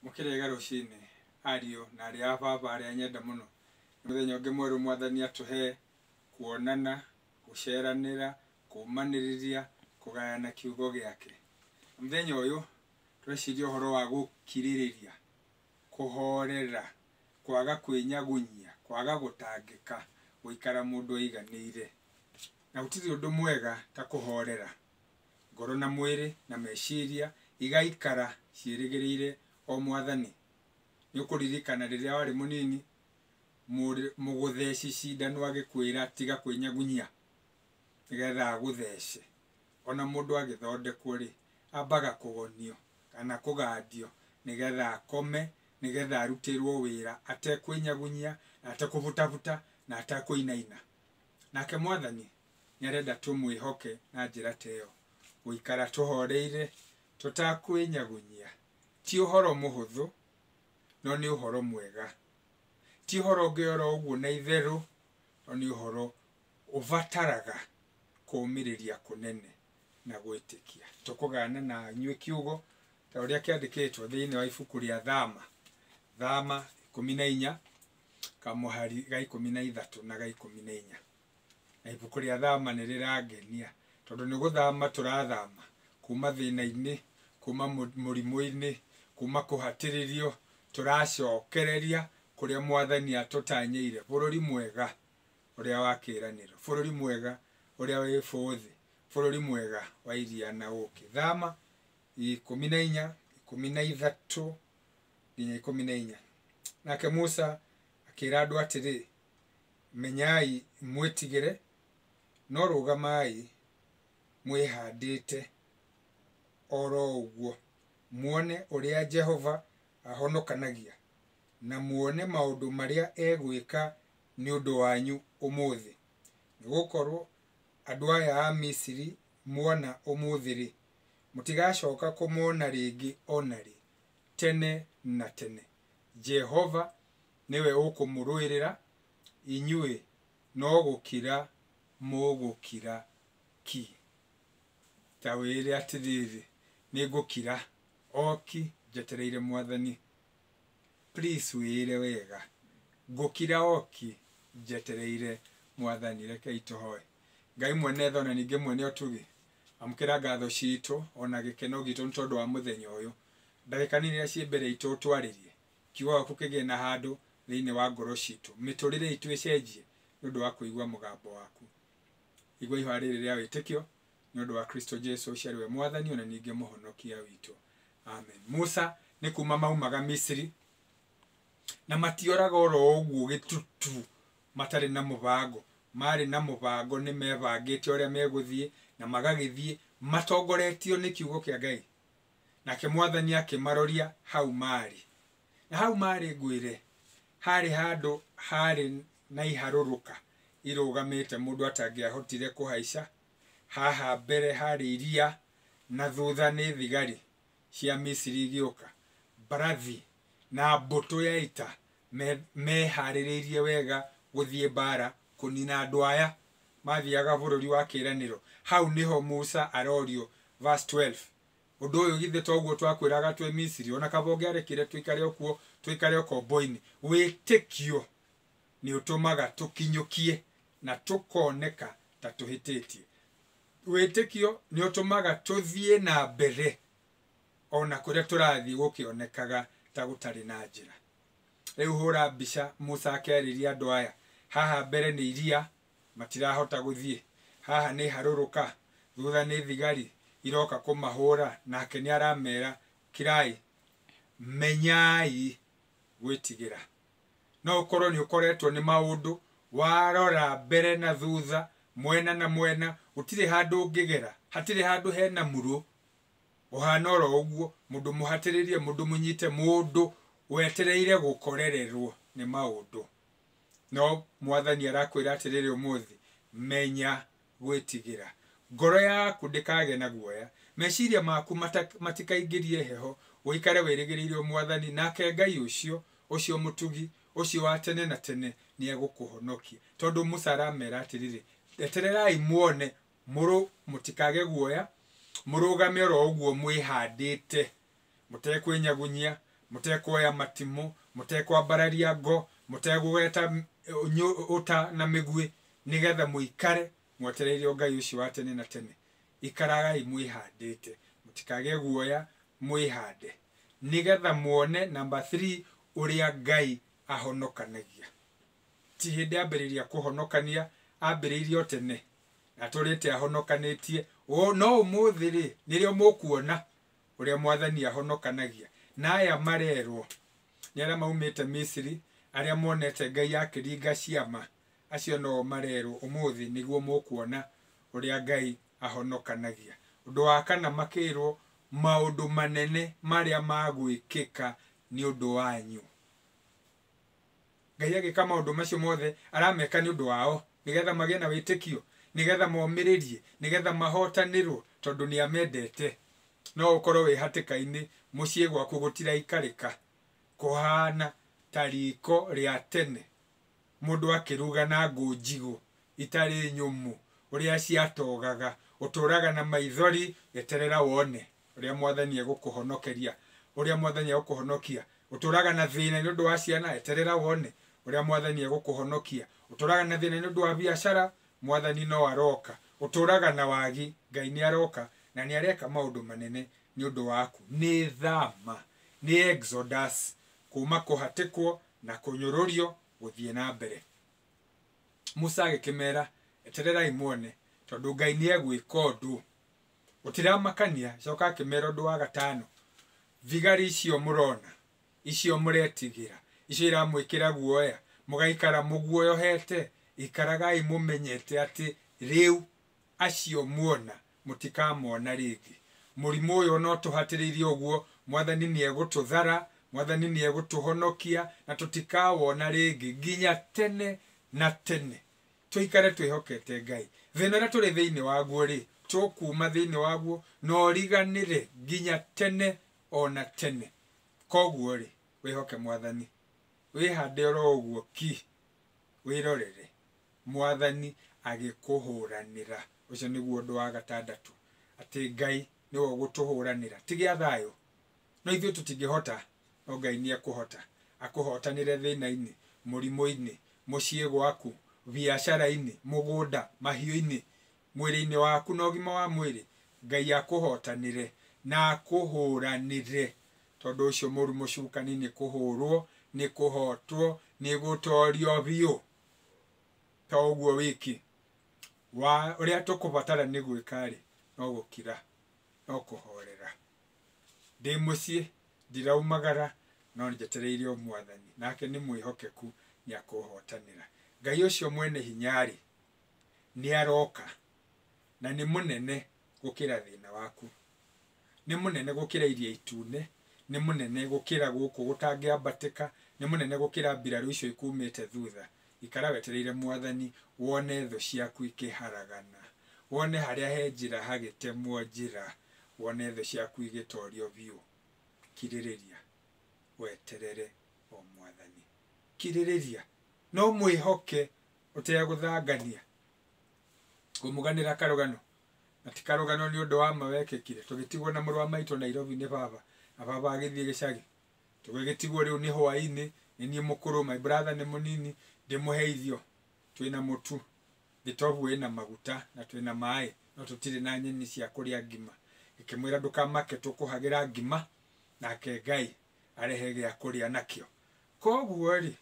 mũkĩrega rũcinĩ ariũ na arĩa a baba arĩa nyenda mũno nĩ mũthenya ũngĩ mwerũ mwathani atũhe kuonana gũceranĩra kũmanĩrĩria kũgayana kiugo gĩake mũthenya ũyũ tweciria ũhoro wa gũkirĩrĩria kũhorera kwaga kwĩnyagunyia kwaga gũtangĩka gũikara mũndũ aiganĩire na gũtirĩ ũndũ mwega ta kũhorera Ngoro na mwĩrĩ na meciria igaikara ciĩrĩgĩrĩire o Mwathani. Nĩũkũririkana rĩrĩa warĩ mũnini, mũrĩ mũgũtheci cindano agĩkwĩra tiga kwĩnyagunyia nĩgetha agũthece. Ona mũndũ agĩthondekwo-rĩ, ambaga kũgonio kana kũgandio nĩgetha akome, nĩgetha arutĩrwo wĩra atekwĩnyagunyia, atekũbutabuta na atekũinaina. Nake Mwathani nĩ arenda tũmwĩhoke na njĩra ta ĩyo. Gũikara tũhoreire tũtakwĩnyagunyia ti ũhoro mũhũthũ, no nĩ ũhoro mwega. Ti ũhoro ũngĩ oro ũguo na itherũ, no nĩ ũhoro ũbataraga kũũmĩrĩria kũnene na gwĩtĩkia. Tũkũgaana na inyuĩ kiugo ta ũrĩa kĩandĩkĩtwo thĩinĩ wa ibuku rĩa Thama, Thama ikũmi na inya, kamũhari ga ikũmi na ithatũ na ga ikũmi na inya. na ibuku rĩa thama nĩ rĩrangenia tondũ nĩ gũthama tũrathama kuma thĩna-inĩ, kuma mũrimũ-inĩ, kuma kũhatĩrĩrio tũracokereria kũrĩa mwathani atũtanyĩire, bũrũri mwega ũrĩa wa kĩranĩro, bũrũri mwega ũrĩa wĩ bũthĩ, bũrũri mwega wa iria na ũkĩ. Thama ikũmi na inya, ikũmi na ithatũ nginya ikũmi na inya. Nake Musa akĩra andũ atĩrĩ. Menyai mwĩtigĩre, no rũgamai mwĩhandĩte o ro ũguo, muone ũrĩa Jehova ahonokanagia, na muone maũndũ marĩa egwĩka nĩ ũndũ wanyu ũmũthĩ. Nĩ gũkorũo andũ aya a Misiri muona ũmũthĩ-rĩ, mũtigacoka kũmona rĩngĩ o na rĩ, tene na tene. Jehova nĩwe ũkũmũrũĩrĩra, inyuĩ no gũkira mũgũkira ki. Njawĩĩre atĩrĩrĩ, nĩngũkira o ki njetereire Mwathani. Please wĩĩre wega, ngũkira o ki njetereire Mwathani. Rekei tũhoe. Ngai mwene tha o na ningĩ mwene ũtugi, amũkĩra ngatho ciitũ o na gĩkeno giitũ nĩ tondũ wa mũthenya ũyũ. Ndagĩka nini iria ciĩ mbere iitũ ũtwarĩrie, Kiugo gĩaku kĩgĩe na handũ thĩinĩ wa ngoro citũ. Mĩtũrĩre itũ ĩcenjie nĩ ũndũ wa kũigua mũgambo waku. Igua ihoya rĩrĩ rĩa wĩtĩkio nĩ ũndũ wa Kristo Jesu ũcio arĩ we Mwathani o na ningĩ Mũhonokia witũ. Amen. Musa nĩ kuuma maumaga Misiri, na matioraga o ro ũguo gĩtutu matarĩ na mũbango. Maarĩ na mũbango, nĩ mebangĩte ũrĩa megũthiĩ, na magagĩthiĩ matongoretio nĩ kiugo kĩa Ngai. Nake mwathani akĩmaroria hau maarĩ. Na hau maarĩ ngwĩre, haarĩ handũ haarĩ na iharũrũka irũgamĩte mũndũ atangĩahotire kũhaica, haha mbere haarĩ iria, na thutha nĩ thigari cia Misiri igĩũka, mbarathi, na mbũtũ ya ita, me, meharĩrĩirie wega gũthiĩ mbaara kũnina andũ aya mathiaga bũrũri wa kĩĩranĩro. Hau nĩho Musa arorio, verse 12, Ũndũ ũyũ githĩ to guo twakwĩraga twĩ Misiri, o na kaba ũngĩarekire tũikare o kuo, tũikare ũkombo-inĩ? Wĩtĩkio nĩũtũmaga tũkinyũkie na tũkoneka ta tũhĩtĩtie. Wĩtĩkio nĩũtũmaga tũthiĩ na mbere o na kũrĩa tũrathiĩ gũkĩonekaga ta gũtarĩ na njĩra. Rĩu hũra mbica Musa akĩarĩria andũ aya, Haha mbere nĩ iria, matirahota gũthiĩ. Haha nĩ harũrũka, thutha nĩ thigari iroka kũmahũra, nake nĩ aramera, Kirai, menyai gwĩtigĩra. No ũkorũo nĩ ũkoretwo nĩ maũndũ, warora mbere na thutha, mwena na mwena, gũtirĩ handũ ũngĩgera, hatirĩ handũ hena murũ, ũhana oro ũguo, mũndũ mũhatĩrĩrie, mũndũ mũnyite, mũndũ wetereire gũkorererwo nĩ maũndũ. No Mwathani arakwĩra atĩrĩrĩ ũmũthĩ, menya gwĩtigĩra. Ngoro yaku ndĩkagĩe na guoya, meciria maku matikaingĩrie heho, ũikare wĩrĩgĩrĩire o Mwathani, nake Ngai ũcio, ũcio mũtugi, ũcio wa tene na tene nĩegũkũhonokia. Tondũ Musa aramera atĩrĩrĩ, etererai muone Mũrũ, mũtikage guoya, mũrũgame oro ũguo mwĩhandĩte, mũtekwĩnyagunyia, mũtekwoya matimũ, mũtekwambararia ngo, mũtekũgweta ũta na mĩguĩ, nĩ getha mũikare mwetereire o Ngai ũcio wa tene na tene. Ikaragai mwĩhandĩte, mũtikage guoya, mwĩhande, nĩ getha muone, number three, ũrĩa Ngai ahonokanagia. ti hĩndĩ ambĩrĩria kũhonokania ambĩrĩirie o tene na tũrĩte ahonokanĩtie O- no ũmũthĩ rĩ nĩrĩo mũkuona ũrĩa mwathani ahonokanagia na aya marerwo nĩ arĩa maumĩte misiri arĩa monete ngai akĩringa ciama acio noo marerwo ũmũthĩ nĩguo mũkuona ũrĩa ngai ahonokanagia ũndũ wa kana makĩrwo maũndũ manene marĩa magwĩkĩka nĩ ũndũ wanyu Ngai agĩka maũndũ macio mothe arameka nĩ ũndũ wao, nĩgetha magĩe na wĩtĩkio, nĩgetha momĩrĩrie, nĩgetha mahotanĩrwo, tondũ nĩ amendete. No ũkorwo wĩ hatĩka-inĩ, mũciĩ gwaku gũtiraikarĩka, kũhana ta riko rĩa tene, mũndũ akĩruga na ngũ njigũ, itarĩ nyũmũ ũrĩa ciatogaga, ũtũũraga na maithori, eterera wone ũrĩa Mwathani egũkũhonokeria, ũrĩa Mwathani egũkũhonokia, ũtũũraga na thĩna nĩ ũndũ wa ciana, eterera wone ũrĩa Mwathani egũkũhonokia, ũtũũraga na thĩna nĩ ũndũ wa biacara, Mwathani no aroka, ũtũũraga na wagi, Ngai nĩ aroka na nĩ areka maũndũ manene nĩ ũndũ waku. Nĩ tha ma, nĩ Exodus, kuuma kũhatĩkwo na kũnyũrũrio gũthiĩ na mbere. Musa agĩkĩmera, Etererai muone, tondũ Ngai nĩegwĩka ũndũ. Gũtiramakania, acoka akĩmera ũndũ wa gatano, Thigari icio mũrona, icio mũretigĩra, icio iramwĩkĩra guoya, mũgaikara mũguoyohete, ikaragai mũmenyete atĩ rĩu Acio muona, mũtikamona rĩngĩ. Mũrimũ ũyũ ona ũtũhatĩrĩirie ũguo, Mwathani nĩegũtũthara, Mwathani nĩegũtũhonokia, na tũtikawona rĩngĩ nginya tene na tene. Tũikare twĩhokete Ngai. Thĩna ũrĩa tũrĩ thĩinĩ waguo-rĩ, tũkuuma thĩinĩ waguo na ũriganĩre nginya tene o na tene. Koguo-rĩ, wĩhoke Mwathani. Wĩhande oro ũguo ki. Wĩrorere. Mwathani agĩkũhũranĩra. Ũcio nĩguo ũndũ wa gatandatũ, atĩ Ngai nĩwe ũgũtũhũranĩra. Ti gĩa thayũ. No ithuĩ tũtingĩhota, no Ngai nĩ ekũhota. Akũhotanĩre thĩna-inĩ, mũrimũ-inĩ, mũciĩ gwaku, biacara-inĩ, mũgũnda, mahiũ-inĩ, mwĩrĩ-inĩ waku na ũgima wa mwĩrĩ. Ngai akũhotanĩre na akũhũranĩre. Tondũ ũcio mũru mũcukani nĩ kũhũrwo, nĩ kũhotwo, nĩ gũtorio biũ. to ũguo wiki, wa ũrĩa tũkũbatara nĩ gwĩka-rĩ, no gũkira, no kũhorera. Ndĩ mũciĩ, ndiraumagara, no njetereire o Mwathani, nake nĩ mwĩhokeku nĩakũhotanĩra. Ngai ũcio mwene hinya-rĩ, nĩaroka, na nĩ mũnene gũkĩra thĩna waku. Nĩ mũnene gũkĩra Iria Itune, nĩ mũnene gũkĩra gũkũ gũtangĩambatĩka, nĩ mũnene gũkĩra mbirarũ icio ikuumĩte thutha. Ikara wetereire Mwathani, wone thũ ciaku ikĩharagana, wone harĩa he njĩra hagĩtemwo njĩra, wone thũ ciaku igĩtoorio biũ. Kirĩrĩria, weterere o Mwathani. Kirĩrĩria, no mwĩhoke ũtegũthangania. Ngũmũganĩra karũgano na ti karũgano nĩ ũndũ wa ma wekĩkire tũgĩtigwo na mũrũ wa maitũ nairobi nĩ baba na baba agĩthiĩ gĩcagi tũgĩgĩtigwo rĩu nĩ hwainĩ nĩ niĩ mũkũrũ my brother nĩ mũnini ndĩmũhe irio twĩna mũtu gĩtobu wĩna maguta na twĩna maĩ no tũtirĩ na nyeni cia kũrĩa ngima ĩkĩmwĩra ndũkamake tũkũhagĩra ngima nake ngai arehe gĩa kũrĩa nakĩo koguo rĩ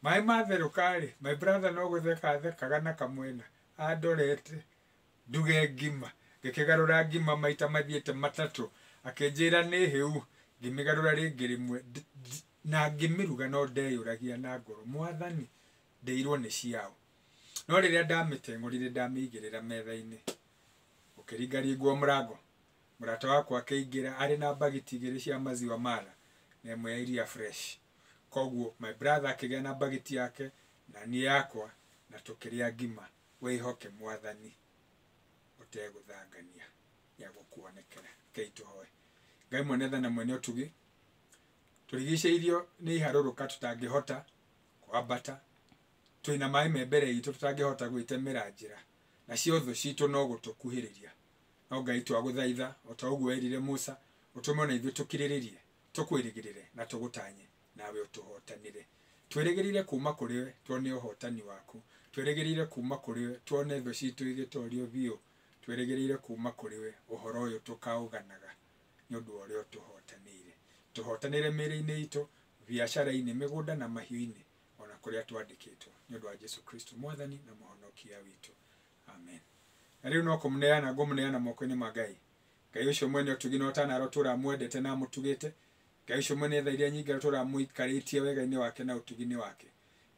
Maĩ matherũka rĩ, my brother no gũtheka athekaga na kamwena andorete nduge ngima. Ngĩkĩgarũra ngima maita mathiĩte matatũ, akĩnjĩra nĩ hĩu, ngĩmĩgarũra rĩngĩ rĩmwe na ngĩmĩruga no ndeyũragia na ngoro, mwathani, ndĩirwo nĩ ciaũ? No rĩrĩa ndamĩteng'ũrire ndamĩigĩrĩra metha-inĩ, gũkĩringaringwo mũrango, mũrata wakwa akĩingĩra arĩ na bagiti igĩrĩ cia maziwa mala na ĩmwe ya iria fresh. Koguo my brother akĩgĩa na bagiti yake na niĩ yakwa na tũkĩrĩa ngima. Wĩhoke Mwathani ũtegũthangania nĩagũkuonekera. Rekei tũhoe. Ngai mwene tha na mwene ũtugi, tũrigicĩirio nĩ iharũrũka tũtangĩhota kwambata, twĩna maĩ me mbere itũ tũtangĩhota gwĩtemera njĩra, nacio thũ citũ no gũtũkuhĩrĩria. No Ngai twagũthaitha, o ta ũguo werire Musa, ũtũme o na ithuĩ tũkirĩrĩrie Tũkwĩrĩgĩrĩre na tũgũtanye, nawe ũtũhootanĩre. Twĩrĩgĩrĩre kuuma kũrĩ we tuone ũhootani waku. Twĩrĩgĩrĩre kuuma kũrĩ we tuone thũ ciitũ igĩtoorio biũ. Twĩrĩgĩrĩre kuuma kũrĩ we ũhoro ũyũ tũkaũganaga nĩ ũndũ wa ũrĩa ũtũhootanĩire. Tũhootanĩre mĩĩrĩ-inĩ iitũ, biacara-inĩ, mĩgũnda na mahiũ-inĩ, o na kũrĩa twandĩkĩtwo. Nĩ ũndũ wa Jesu Kristo Mwathani na Mũhonokia witũ. Amen. Na rĩu no kũmũneana ngũmũneana moko-inĩ ma Ngai. Ngai ũcio mwene ũtugi na ũtanarwo tũra amwendete na amũtugĩte, Ngai ũcio mwene tha iria nyingarũ tũra amũikarĩtie wegainĩ wake na ũtuginĩ wake.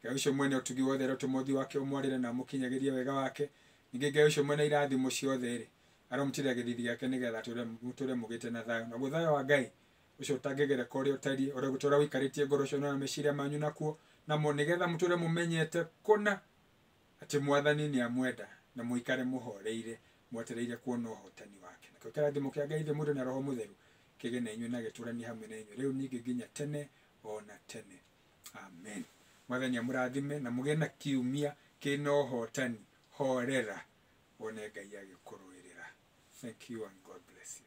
Ngai ũcio mwene ũtugi wothe arotũma ũthiũ wake ũmwarĩre na amũkinyagĩrie wega wake, ningĩ Ngai ũcio mwene irathimo ciothe-rĩ, aromũtirĩra gĩthithi gĩake nĩ getha atũre, mũtũre mũgĩte na thayũ. Naguo thayũ wa Ngai, ũcio ũtangĩgereka ũrĩa ũtariĩ, ũrĩa ũgũtũra wĩikarĩtie ngoro cianyu na meciria manyu nakuo, namo nĩ getha mũtũre mũmenyete kũna, Atĩ Mwathani nĩamwenda, na mũikare mũhooreire, mwetereire kuona ũhootani wake. Nakĩo kĩrathimo kĩa Ngai Ithe Mwendwa na Roho Mũtheru kĩgĩe na inyuĩ na gĩtũũranie hamwe na inyuĩ rĩu ningĩ nginya tene o na tene. Amen. Mwathani amũrathime na mũgĩe na kiumia kĩ na ũhootani. Horera wone Ngai agĩkũrũĩrĩra. Thank you and God bless you.